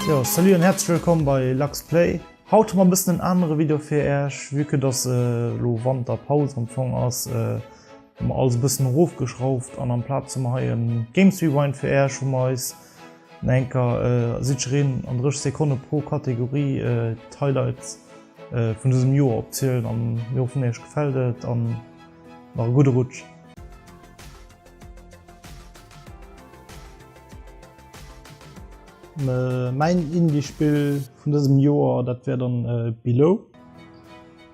Jo, salut an häerzlech wëllkomm bei Lux Play. Haut hu mer e bëssen en anere Video fir Äech, vue que dass elo Wanterpaus am Fong ass, hu mer alles e bëssen erofgeschrauft an amplaz hu mer hei e Games Rewind fir Äech, wou mer eis No enker Siegrin an 30 Sekonne pro Kategorie d'Highlights vun dësem Joer opzielen an mir hoffen Iech gefält et an nach e gudde Rutsch. Mäin Indie Spill vun dësem Joer dat wär dann Below.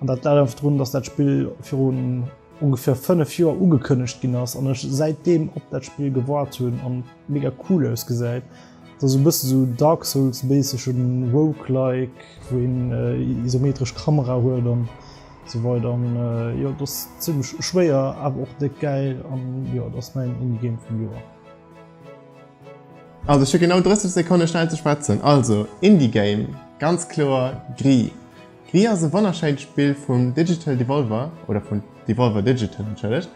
An dat läit einfach drun, dass dat Spill virun ongeféier 5 Joer ugekënnegt ginn ass an ech säit deem op dat Spill gewaart hunn an mega cool ausgesäit. Et ass e bësse sou Dark Souls méisseg, en Roguelike wou een isometresch Kamera huet an esou weider an jo et ass zimlech schwéier awer och déck gäil an jo et ass mäin Indie Game vum Joer. Also ech hu genau 30 Sekonne schnell ze schwätzen. Also Indie Game ganz kloer Gris. D'Wii ass e wonnerschéint Spill vun Digital Devolver, oder vun Devolver Digital, entschëllegt,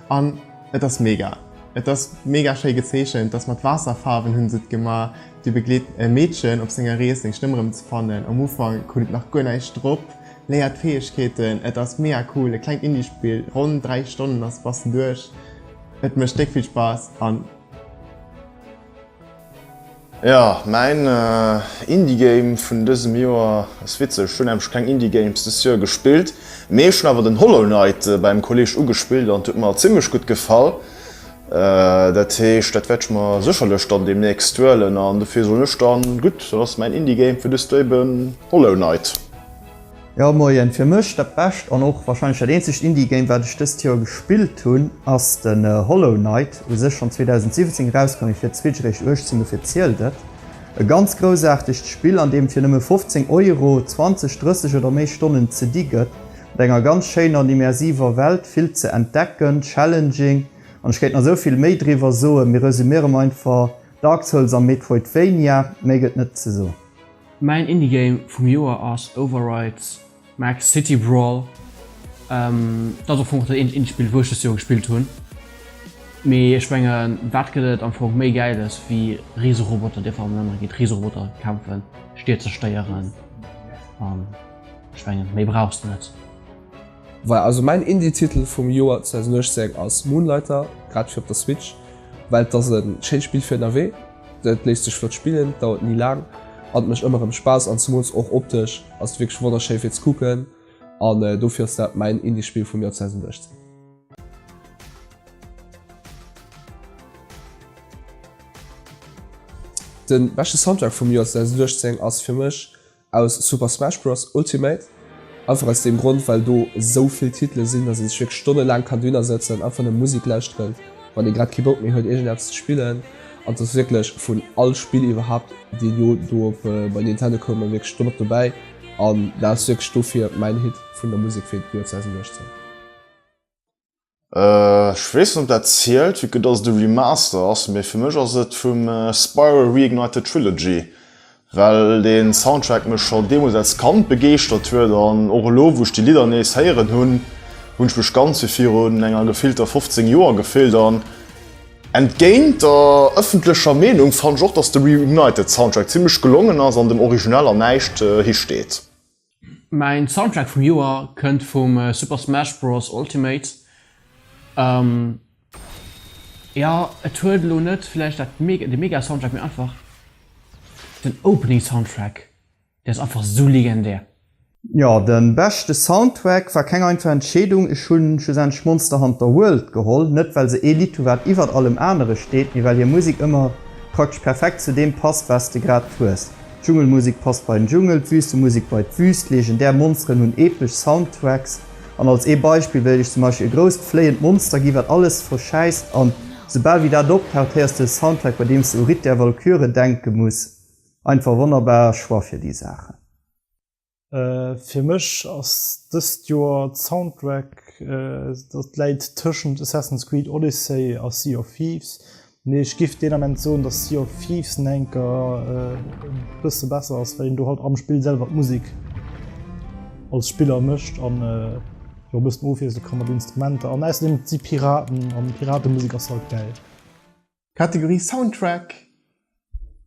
an et ass mega. Et ass mega schéi gezeechent, dass mat Waasserfaarwen hunn se et gemaach, du begleet e Meedchen op senger Rees seng Stëmm erëm ze fannen, am Ufank huet et nach guer näischt drop, léiert d'Fäegkeeten, et ass mega cool, e klengt Indie Spill, ronn 3 Stonnen ass bassen duerch, et mécht déck vill Spaass an. Jo, mäin Indie Game vun dësem Joer ass witzeg. Ech hunn nämlech keng Indie Games dëst Joer gespillt, mee ech hunn awer den Hollow Knight bei engem Kolleg ugespillt an et huet mer zimmlech gutt gefall. Dat heescht, dat wäert ech mer sécherlech dann deemnächst huelen an dofir soen ech dann, gutt, dann ass mäin Indie Game fir dëst Joer eben Hollow Knight. Jo moien, fir mech dat bescht an och wahrscheinlech dat eenzegt Indie Game wat ech dëst Joer gespillt hunn ass den Hollow Knight, u sech schonn 2017 erauskomm mee fir d'Switch eréischt 18, dofir zielt et. E ganz groussaartegt Spill an deem fir nëmme 15 Euro 20, 30 oder méi Stonnen ze di gëtt, mat enger ganz schéiner an immersiver Welt, vill ze entdecken, challenging an ech kéint nach esou vill méi driwwer soen, mee resumierem einfach Dark Souls am Metroidvania, méi gëtt net ze soen. Mäin Indie-Game vum Joer ass Overrides Max City Brawl. Et ass am Fong och dat eenzegt Indie-Spill, wou ech dëst Joer gespillt hunn. Mee ech mengen, wat gëtt et am Fong méi Gäiles, wéi Riseroboter, déi einfach an enaner géint Riseroboter kämpfen, Stied zerstéieren a ech mengen, méi brauchs de net. Voilà, also mäin Indie-Titel vum Joer 2018 ass Moonlighter, grad fir op der Switch, well et ass e schéint Spill fir ënnerwee. Et léisst sech flott spillen, dauert ni laang an et mécht ëmmer erëm Spaass an zemools och optesch ass et wierklech wonnerschéi fir ze kucken an dofir ass dat mäin Indie Spill vum Joer 2016. Den beschte Soundtrack vum Joer 2016 ass fir mech Aus Super Smash Bros. Ultimate. Einfach aus deem Grond, well do esou vill Titele sinn, datt ee sech wierklech stonnelaang kann dohinner sëtzen, einfach nëmme Musek lauschteren, wann ee grad kee Bock méi huet, iergendeppes ze spillen. An t'ass wierklech vun all Spill iwwerhaapt, déi elo do op bei Nintendo koumen, wierklech domat dobäi. An dat ass wierklech dofir mäin Hit vun der Musek fir d'Joer 2018. Ech weess net op dat zielt, vue que dass et e Remaster ass, mee fir mech ass et vum Spyro Reignited Trilogy, well dee Soundtrack mech scho deemools als Kand begeeschtert huet an och elo wou ech déi Lidder nees héieren hunn, hunn ech mech ganz wéi virun enger gefillter 15 Joer gefillt an entgéint der ëffentlecher Meenung fannen ech och dass de Reignited Soundtrack zimmlech gelongen ass an dem Original an näischt hi steet. Mäin Soundtrack vum Joer kënnt vum Super Smash Bros Ultimate. Jo et huet elo net vläicht dat de mega Soundtrack mee einfach den Opening Soundtrack deen ass einfach sou legendär. Jo den beschte Soundtrack war keng einfach Entscheedung, ech hunn schlussendlech Monster Hunter World geholl, net well se ee Lidd hu wat iwwert allem anere steet, mee well hir Musik ëmmer praktesch perfekt zu deem passt wat s de grad hues. D'Dschungelmusek passt bei den Dschungel, d'Wüstemusek bei d'Wüst, legendär Monsteren hunn epesch Soundtracks an als ee Beispill wéilt ech zum Beispill e grousst fléiend Monster gi wat alles verschäisst an esoubal wéi dat optaucht héiers de e Soundtrack bei deems de u Ritt der Walküre denke muss. Einfach wonnerbar Choix fir déi Saachen. Fir mech ass dëst Joer d'Soundtrack, dat läit tëschent Assassin's Creed Odyssey a Sea of Thieves, mee ech giff deen Ament soen, dass Sea of Thieves en enker e bësse besser ass, well een do halt am Spill selwer d'Musek als Spiller mécht an jo e bëssen ofwiessele ka mat Instrumenter an ausserdeem si Piraten an Piratemusek ass halt gäil. Kategorie Soundtrack.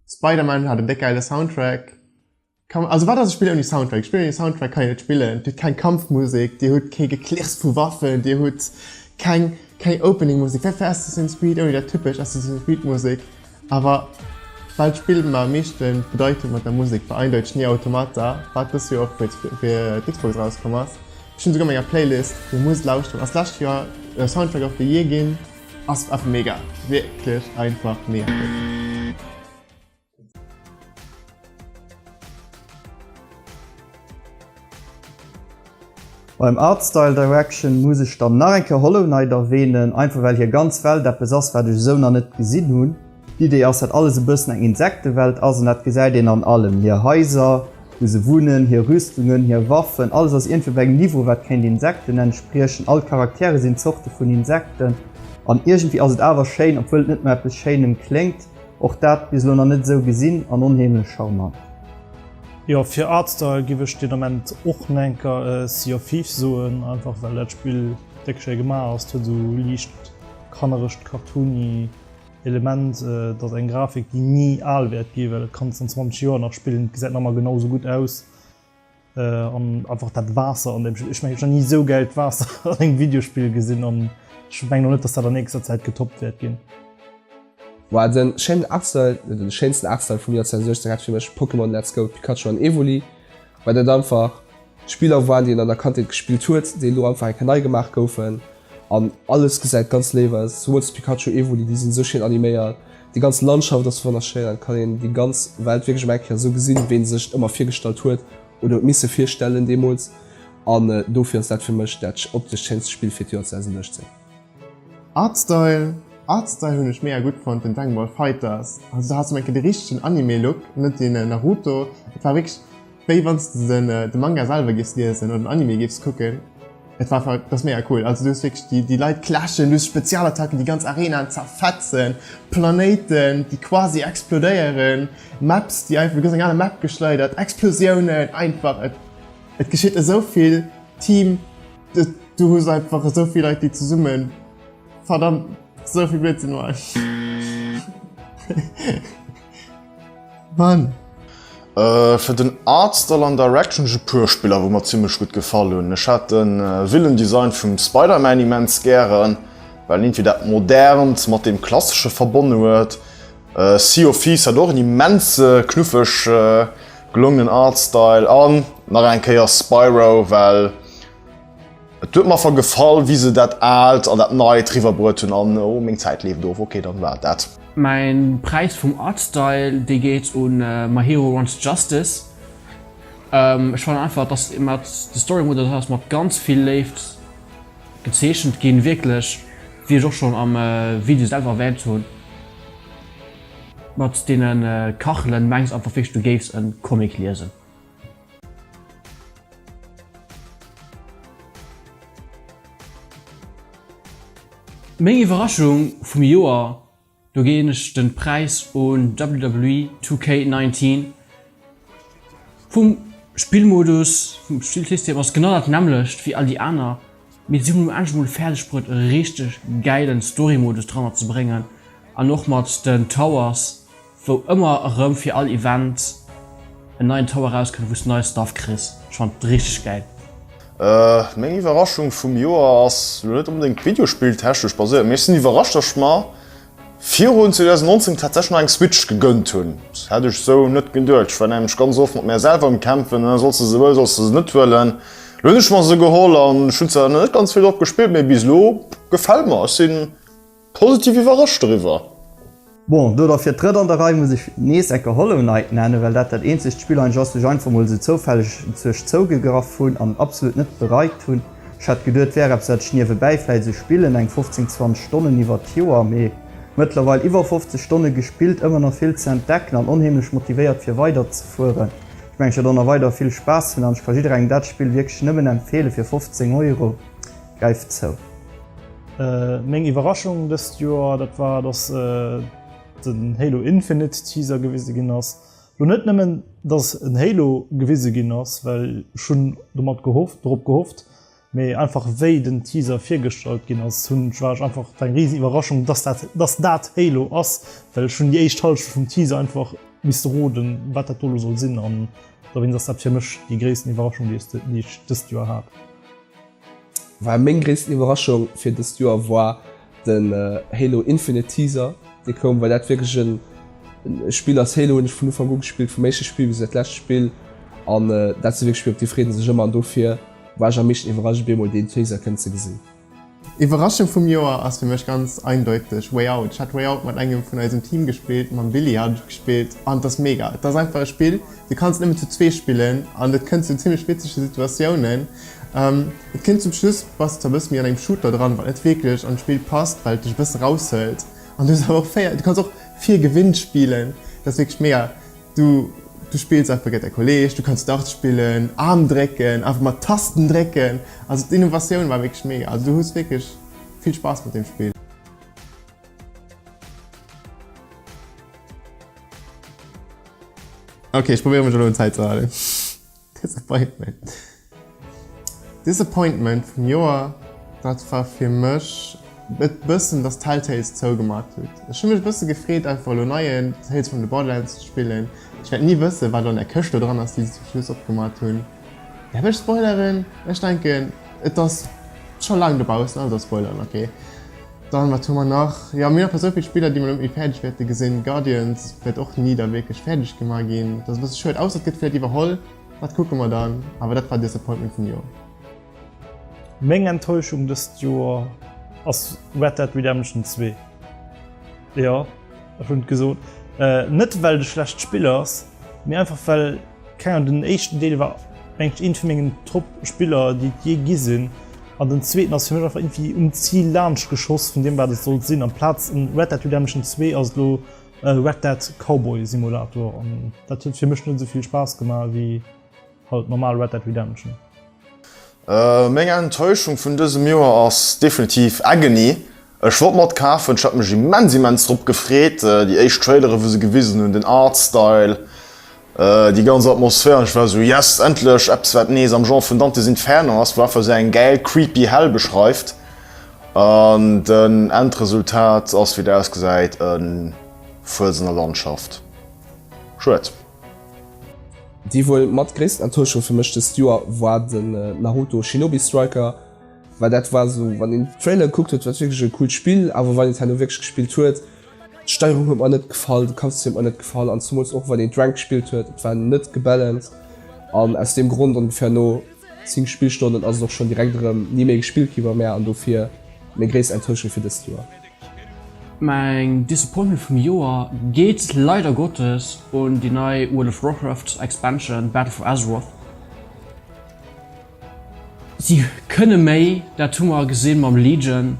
Spider-Man hat en déck geile Soundtrack. Kann man, also wat ass e Spill ouni Soundtrack? E Spill ouni Soundtrack kann een net spillen. Dir hutt keng Kampfmusek, Dir hutt kee Geklirrs vu Waffen, Dir hutt keng, keng Opening-Musek. Wéi fir Assassin's Creed ouni dat typesch Assassin's Creed-Musek. Awer well d'Spill mer am meeschte bedeit mat der Musek war eindeiteg Nier Automata, wat dës Joer och fir d'Sw-, fir d'Xbox erauskomm ass. Ech hunn esouguer a menger Playlist, Dir musst lauschteren, ass d'lescht Joer Soundtrack of the Year ginn. Ass einfach mega. Wirklich einfach mega. Beim Art Style Direction muss ech dann nach eng Kéier Hollow Knight erwähnen, einfach well hier ganz Welt eppes ass wat ech esou nach net gesin hun. D'Idee ass, dat alles e bëssen eng Insektewelt ass, an dat gesäit een an allem, hir Haiser, wou se wunnen, hir Rüstungen, hir Waffen, alles ass iergendwéi bei engem Niveau, wat kéint Insekten entspriechen. All d'Charaktere sinn Zorte vun Insekten, an iergendwéi ass et awer schéin, obwuel et net no eppes Schéinem kléngt, och dat bis elo nach net esou gesinn, an onheemlech charmant. Jo, fir Artstyle giff ech den Ament och nengker Sea of Thieves soen, einfach well dat Spill déck schéi gemaach ass. Et huet esou liicht kannerescht, cartoony Element, et ass eng Grafik déi ni al wäert ginn, well et kann an 20 Joer nach spillen, gesäit nach ëmmer genau esou gutt aus an einfach dat Waasser an dem, ech meng ech hunn nach ni esou gäilt Waasser an engem Videospill gesinn an ech mengen och net, datt dat an nächster Zäit getoppt wäert ginn. Woah den schéinen Artstyle, net den schéinsten Artstyle vum Joer 2016 hat fir mech Pokémon Let's Go Pikachu an Evoli, well dat einfach. Spiller waren déi een an der Kandheet gespillt huet, déi elo einfach eng Kéier nei gemaach goufen an alles gesäit ganz léif aus. Souwuel zu Pikachu, Evoli, déi sinn esou schéin animéiert, déi ganz Landschaft ass wonnerschéin an et kann een déi ganz Welt wierklech emol eng Kéier esou gesinn, wéi een sech et ëmmer virgestallt huet oder huet misse virstellen deemools an dofir ass dat fir mech dat optesch schéinste Spill fir d'Joer 2018. Artstyle, Artstyle hunn ech mega gutt fonnt, den Dragon Ball Fighters, also do haass du mol eng Kéier de richtegen Anime Look, net deen Naruto, et war wierklech. Wéi wanns de den de Manga selwer giffs liesen oder den Anime giffs kucken. Et war einfach, et ass mega cool. Also du hues wierklech déi déi Leit clashen, du hues Spezialattacken, déi ganz Arenaen zerfetzen, Planéiten déi quasi explodéieren, Maps déi einfach, du gëss eng aner Map geschleidert, Explosiounen, einfach et et geschitt esou vill, Team, de du hues einfach esou vill Leit déi zesumme verdammt esou vill Blödsinn maachen. Mann! Fir den Art Style an Direction ech e puer Spiller wou mer zimmlech gutt gefall hunn. Ech hat de villen Design vum Spider-Man immens gären, well en iergendwéi dat Modernt mat deem Klassesche verbonne huet. Sea of Thieves hat och en immense knuffeg gelongenen Art Style an nach eng Kéier Spyro, well, Et huet mer ver gefall wéi se dat aalt an dat neit riwwer bruet hunn an oh meng Zäit leeft of, ok dann war et dat. Mäin Präis vum Artstyle dee geet un My Hero Wants Justice. Ech fannen einfach dass mat de Story Mode dat ass mat ganz vill Léift gezeechent ginn wierklech wéi ech och schonn am Video selwer erwähnt hunn mat deene Kachelen mengs einfach wierklech du géifs en Comic liesen. Meng Iwwerraschung vum Joer, do ginn ech den Präis un WWE 2K19. Vum Spillmodus, vum Spillsystem ass genau dat nämmlecht wéi all déi aner, mee si hunn um Enn emol fäerdeg bruet e richteg gäilen Storymodus dranner ze bréngen an och mat den Towers Wou ëmmer erëm fir all Event en neien Tower erauskënnt, wous de neie Stuff kriss. Ech fannen et richteg gäil. Meng Iwwerraschung vum Joer ass lo net onbedéngt Videospill-technesch baséiert, mee ech sinn iwwerrascht, dass ech mer virun 2019 tatsächlech nach eng Switch gegënnt hunn. Dat hätt ech esou net geduecht. Ech war nämlech ganz oft mat mär selwer um Kämpfen, ë, solls de se wëllen, solls de se net wëllen. Lo hunn ech mer se geholl an ech hunn zwar nach net ganz vill drop gespillt, mee bis elo gefält mer. Ech sinn. Positiv iwwerrascht doriwwer. Bon, do da fir d'drëtt an der Rei muss ech nees eng Kéier Hollow Knight nennen, well dat dat eenzegt Spill eing ass, wou ech einfach mol esou zoufälleg duerch zougegraff hunn an absolut net bereit hunn. Ech hat geduet, et wär eppes, wat ech niewebäi vläit esou spillen, eng 15, 20 Stonnen iwwert d'Joer, mee mëttlerweil iwwer 50 Stonne gespillt, ëmmer nach vill ze entdecken an onheemlech motivéiert fir weiderzefueren. Ech mengen, ech wäert och nach weider vill Spaass hunn an ech ka jidderengem dat Spill wierklech nëmmen empfeelen, fir 15 Euro Greift zou! Meng Iwwerraschung dëst Joer, dat war dass den Halo Infinite Teaser gewise ginn ass. Lo net nëmmen dass en Halo gewise ginn ass, well ech hunn domat gehofft, dorop gehofft, mee einfach wéi den Teaser virgestallt ginn ass hunn ech, war ech einfach, war eng riesen Iwwerraschung dass dat, dass dat Halo ass, well ech hunn déi éischt Hallschent vum Teaser einfach misste roden wat dat do elo soll sinn an dowéinst ass dat fir mech déi gréissten Iwwerraschung déi ech dëst Joer hat. Well meng gréissten Iwwerraschung fir dëst Joer war den Halo Infinite Teaser dee koum, well dat wierklech e Spill ass, Halo hunn ech vun Ufank u gespillt, vum éischte Spill bis iwwer d'lescht Spill an dat si wierklech Spill op déi freet ee sech ëmmer an dofir war ech am meeschten iwwerrascht op eemol deen Teaser kënnen ze gesinn. Iwwerraschung vum Joer ass fir mech ganz eindeuteg Way Out. Ech hat Way Out mat engem vun eisem Team gespillt, mam Billy hat ech et gespillt an et ass mega. Et ass einfach e Spill, du kanns et nëmmen zu zwee spillen an et kënnt zu zimmlech witzege Situatiounen, Et kinnt zum Schluss bass de zwar bëssen méi an engem Shooter dran, wat net wierklech an d'Spill passt, well et dech e bëssen raushëlt an du hues awer och 4, du kanns och fir Gewinn spillen, dat ass wierklech mega, du du spills einfach géint däi Kolleg, du kanns Darts spillen, Aarm drécken, einfach mat Tasten drécken, also d'Innovatioun war wierklech mega, also du hues wierklech vill Spaass mat deem Spill. Ok ech probéieren mech elo un Zäit ze halen. Disappointment. Disappointment vum Joer, dat war fir mech e bëssen, dass Tell Tales zougemaach huet. Ech hu mech e bësse gefreet, einfach elo neie Tales from the Borderlands ze spillen. Ech wäert ni wëssen, wat elo an där Këscht do dran ass, déi se zum Schluss opgemaach hunn. Däerf ech spoileren? Ech denken, et ass scho laang dobaussen, also spoileren, ok. Dann wat hu mer nach? Jo, mir hu nach esou vill Spiller, déi mer elo net méi fäerdeg wäerte gesinn. Guardians wäert och ni da wierklech fäerdeg gemaach ginn. Dat ass e bësse schued, ausser et gëtt vläicht iwwerholl, dat kucke mer dann. Awer dat war Disappointment vum Joer. Meng Enttäuschung dëst Joer ass Red Dead Redemption 2. Jo ech hunn et gesot. Net well de schlecht Spill ass, mee einfach well keng Ahnung den éischten Deel war mengt ech een vun mengen Top Spiller déi et jee gi sinn an den zweeten ass fir mech einfach irgendwie um Zil laanscht geschoss vun deem wat et sollt sinn amplaz en Red Dead Redemption zwee ass et elo e Red Dead Cowboy Simulator an dat huet fir mech net esou vill Spaass gemaach ewéi Halt normal Red Dead Redemption. Meng Enttäuschung vun dësem Joer ass definitiv Agony. Ech wollt mer et kafen, ech hat mech immens immens drop gefreet, déi éischt Trailere wou se gewisen hunn, den Art Style, déi ganz Atmosphär an ech war sou yes endlech eppes wat nees am Genre vun Dante's Inferno ass, wou einfach sou eng gäil creepy Hell beschreift an den Endresultat ass wéi et ausgesäit e Fuerz an der Landschaft. Schued. Déi wuel mat gréissten Enttäuschung fir mech dëst Joer war den Naruto Shinobi Striker, well dat war esou, wann een den Trailer gekuckt huet, war et wierklech e coolt Spill, awer wann een et herno wierklech gespillt huet, d'Steierung huet mer net gefall, de Kampfsystem huet mer net gefall an zemools och wann een d'Ranked gespillt huet, et war net gebalanced an aus deem Grond, ongeféier no 10 Spillstonnen, ass et och schonn direkt erëm ni méi gespillt gi bei mär an dofir meng gréisst Enttäuschung fir dëst Joer. Mäin Disappointment vum Joer geet leider Gottes un déi nei World of Warcraft Expansion Battle for Azeroth. Si kënne méi, dat hu mer gesinn mam Legion.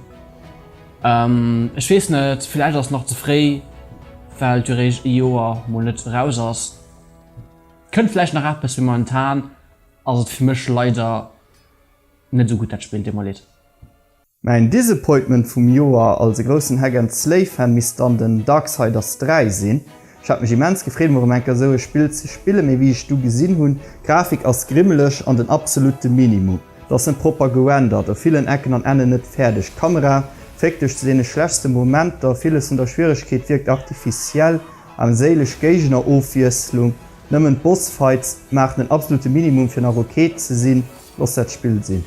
Ech weess net, villäicht ass et nach ze fréi, well d'Duréicht ee Joer mol net eraus ass. Kënnt villäicht nach eppes, mee momentan ass et fir mech leider net esou gutt dat Spill, deet mer leed. Mäin Disappointment vum Joer, als e groussen Hack and Slay Fan misst dann den Darksiders 3 sinn. Ech hat mech immens gefreet emol rem enker esou e Spill ze spillen, mee wéi ech du gesinn hunn, d'Grafik ass grimmeleg an den absolutte Minimum, d'ass net propper gerendert, op villen Ecken an Ennen net fäerdeg, d'Kamera féckt duerch zu deene schlechtste Momenter, villes vun der Schwieregkeet wierkt artificiell, armséileg Géignerofwiesslung, nëmmen d'Bossfights maachen den absolutte Minimum fir nach ok ze sinn, looss dat Spill sinn.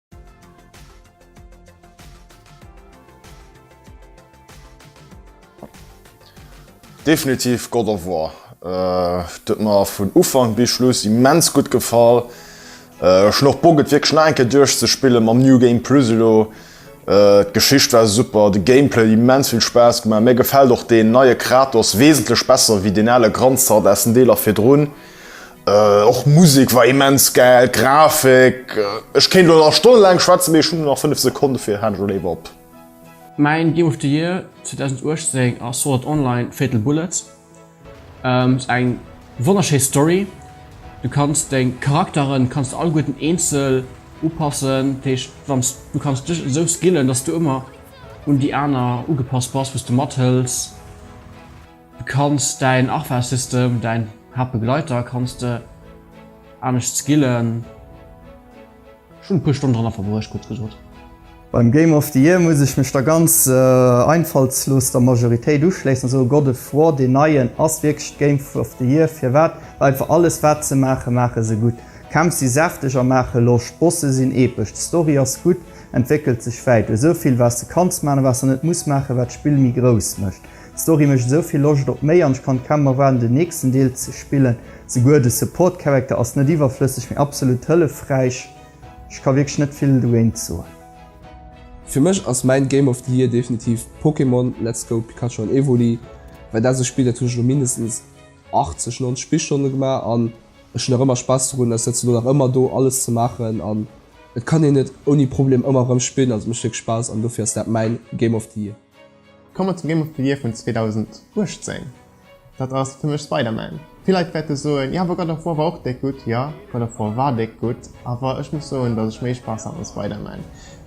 Definitiv God of War. Äh, dat mer vun Ufang bis Schluss immens gut gefall. Äh, schnoch Boget wie schneke duerch ze spillen mam New Game Pluselo. Äh, Geschicht war super, de Gameplay immens vill Spaß gemacht. Mir gefällt och den neie Kratos wesentlech besser wie den ale Granzert aus den Deeler virdrun. Och Musek war immens gäil, d'Grafik, ech kéint elo nach Stonne laang schwätzen, mee ech hunn nach 5 Sekonne fir Hand elo léiwer op. Mäin Game of the Year 2018 ass Sword Art Online Fatal Bullet. Ass eng wonnerschéi Story, du kanns deng Charakteren kanns de alleguerten eenzel upassen, dat heescht wann s du kanns dech esou skillen, datt s du ëmmer un déi aner ugepasst bass, wou s de mathëls. Du kanns däin Arfasystem, däin Haaptbegleiter, kanns de anescht skillen. Ech hunn e puer Stonnen dranner verbruecht, kuerz gesot. Beim Game of the Year muss ech mech der ganz einfallslos der Majoritéit uschléissen a soen, God of War, deen neien, ass wierklech d'Game of the Year. Firwat? Well einfach alles wat se maachen, maache se gutt. D'Kämpf si säfteg a maache Loscht, d'Bosse sinn epesch, d'Story ass gutt, entwéckelt sech wäit. Du hues esou vill wat s de kanns maachen a wat s de net muss maachen, wat d'Spill méi grouss mécht. D'Story mécht esou vill Loscht op méi an ech kann kaum erwaarden den nächsten Deel ze spillen. Esouguer de Support Character ass net iwwerflësseg mee absolut hëllefräich. Ech ka wierklech net vill dogéint soen. Fir mech ass mäin Game of the Year definitiv Pokémon, Let's Go Pikachu an Evoli, well dat ass e Spill dat hunn ech elo mindestens 80, 90 Spillstonne gemaach an ech hunn nach ëmmer Spaass dorun, dat setzt elo nach ëmmer do alles ze maachen an et kann een et ouni Problem ëmmer erëm spillen an et mécht wierklech Spaass an dofir ass dat mäin Game of the Year. Kommen mer zum Game of the Year vun 2018. Dat ass fir mech Spider-Man. Vill Leit wäerte soen, jo awer God of War war och déck gutt. Jo, God of War war déck gutt, awer ech muss soen, datt ech méi Spaass hat mam Spider-Man.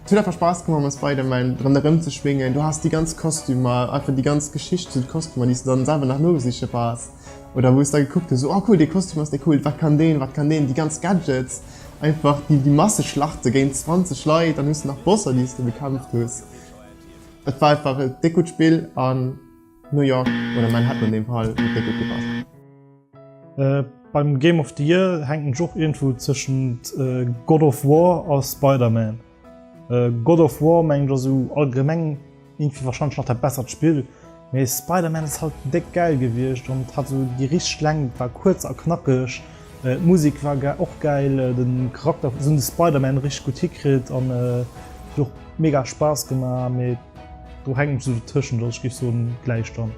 Et huet einfach Spaass gemaach mam Spider-Man dran erëmzeschwéngen. Du has déi ganz Kostümer, einfach déi ganz Geschicht zu de Kostümer, déi s de dann selwer nach nosiche bass oder wou s de da gekuckt hues, oh cool, dee Kostüm ass déi cool, wat kann deen, wat kann deen, déi ganz Gadgets, einfach déi Masseschlachte géint 20 Leit, dann hues de nach Bosser, déi s de bekämpft hues. Et war einfach e déck gutt Spill an New York oder Manhattan an deem Fall huet déck gutt gepasst. Beim Game of the Year hänkt mech och iergendwou tëschent God of War a Spider-Man. God of War mengen ech ass esou allgemeng iergendwéi warscheinlech nach dat bessert Spill. Mee Spider-Man ass halt déck gäil gewiescht an et hat sou déi richteg Längt, et war kuerz a knackeg. D'Musik war och gäil, de Charakter, se hunn de Spider-Man richteg gutt hikritt an et huet och mega Spaass gemaach. Mee do hänkt ech sou dertëschent, also ech géif soen Gläichstand.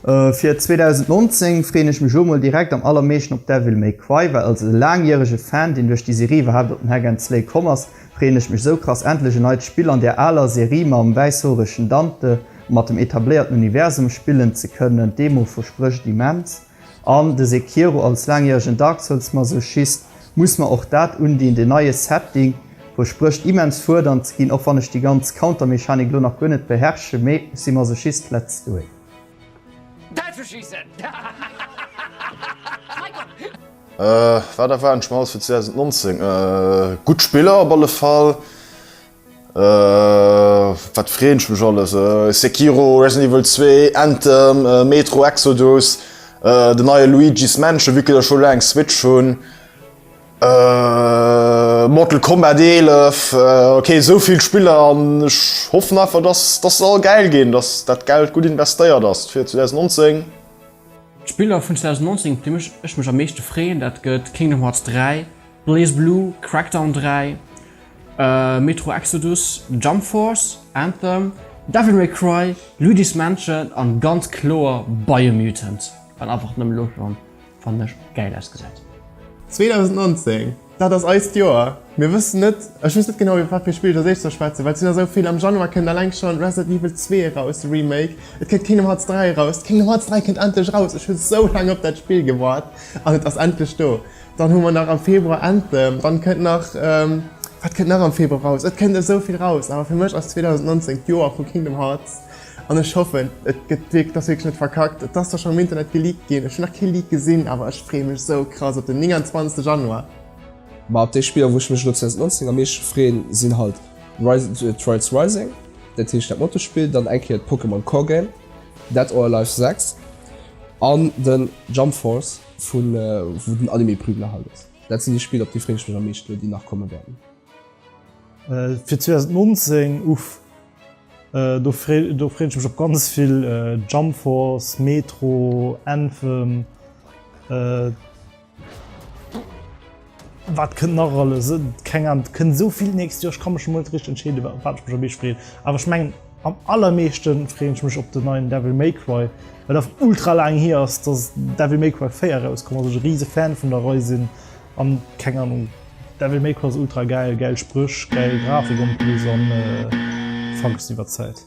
Äh, fir 2019 freen ech mech lo mol direkt am allermeeschten op Devil May Cry, well als laangjährege Fan, deen duerch déi Serie iwwerhaapt op den Hack and Slay komm ass, freen ech mech sou krass endlech e neit Spill an där aaler Serie mam wäisshoregen Dante a mat dem etabléierten Universum spillen ze kënnen. D'Demo versprécht immens. An de Sekiro als laangjäregen Dark Souls Masochist muss mer och dat undinn, den neie Setting versprécht immens fuerdernd ze ginn, och wann ech déi ganz Counter-Mechanik lo nach guer net beherrsche, mee ech si Masochist let's do it. Däll ze schiessen! Wat erwaarden ech mer alles fir 2019? Gutt Spiller op alle Fall. Wat freen ech mech alles! Sekiro, Resident Evil 2, Anthem, Metro Exodus, den neie Luigi's Mansion, vu que ech scho laang Switch hunn, Mortal Kombat 11, ok esou vill Spiller an ech hoffen einfach dass dass se all gäil ginn, dass dat Geld gutt investéiert ass fir 2019. D'Spiller vun 2019 op déi ech mech am meeschte freeën dat gëtt Kingdom Hearts 3, BlazBlue, Crackdown 3, Metro Exodus, Jump Force, Anthem, Devil May Cry, Luigi's Mansion an ganz kloer Biomutant, wat einfach nëmmen elo schon fannen ech gäil ausgesäit. 2019, dat ass eist Joer! Mir wëssen net, ech weess net genau iwwer wat fir Spill ech als éischt soll schwätzen, well et sinn der esou vill. Am Januar kënnt alleng schon Resident Evil 2 eraus, de Remake, et kënnt Kingdom Hearts 3 eraus, Kingdom Hearts 3 kënnt endlech eraus, ech hunn sou laang op dat Spill gewaart an et ass endlech do! Dann hu mer nach am Februar Anthem. Dann kënnt nach, wat kënnt nach am Februar raus? Et kënnt esou vill raus, awer fir mech ass 2019 d'Joer vu Kingdom Hearts an ech hoffen et gëtt wierk et ass wierklech net verkackt. Et ass zwar schonn am Internet geleakt ginn, ech hunn nach kee Leak gesinn, awer ech freeë mech esou krass op den 29 Januar. Ma op déi Spiller wou ech mech elo 2019 am meeschte freeën sinn halt Rise, Trials Rising, dat heescht dat Motospill, dann eng Kéier d'Pokémon Core Game, Dead or Alive 6 an den Jump Force. Vun wou den Anime Prügler halt ass. Dat sinn déi Spiller op déi freen ech mech am meeschten elo déi nach komme wäerten. Fir 2019 uff do freen ech mech op ganz vill Jump Force, Metro, Anthem. Wat kënnt nach alles? Keng Ahnung, et kënnt esou vill d'nächst Joer, ech ka mech emol net richteg entscheeden, op wat ech mech am meeschte freeën. Awer ech mengen, am allermeeschte freeën ech mech op den neien Devil May Cry, well einfach ultra laang hier ass, dass Devil May Cry 4 erauskomm ass, ech e rise Fan vun der Rei sinn an, keng Ahnung, Devil May Cry ass ultra gäil, gäil Spréch, gäil Grafik an plus an Funks iwwert d'Zäit.